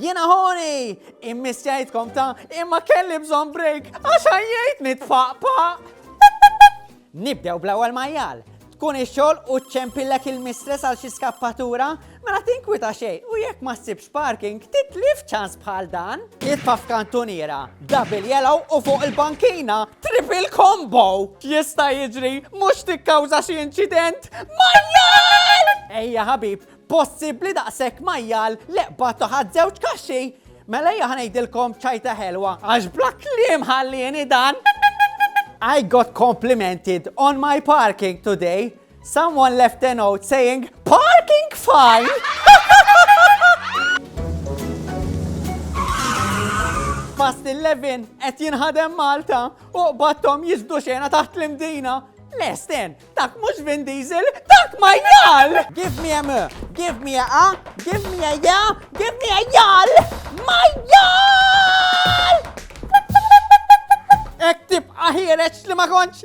Jena ħoni, immissjajtkom ta' imma kelli bżon break, għax għajjajt nitfaqpa. Nibdew bl-ewwel majjal, tkun ix-xogħol u ċempillek il-mistress għal xi skappatura, mela tinkwita xejn u jekk ma ssibx Parking titlif ċans bħal dan? Jitfa' f'kantuniera, double yellow u fuq il-bankina, triple combo! Jista' jiġri mhux tikkawża xi inċident? Majjal! Ejja ħabib, possibbli daqshekk majjal li qbadtu ħadd żewġ kaxxi? Mela ejja ħanejdilkom ċajta ħelwa għax bla kliem ħallieni dan. I got complimented on my parking today. Someone left a note saying parking fine! Fast 11 qed jinħadem Malta u qbattom jizdu xena taħt l-imdina. Lesten, dak mhux Vin Diesel, dak ma jgħal! Give me a m, give me a a, give me a ja, give me a jgħal! Ma jgħal! Ek tibqa ħireċ li ma konċ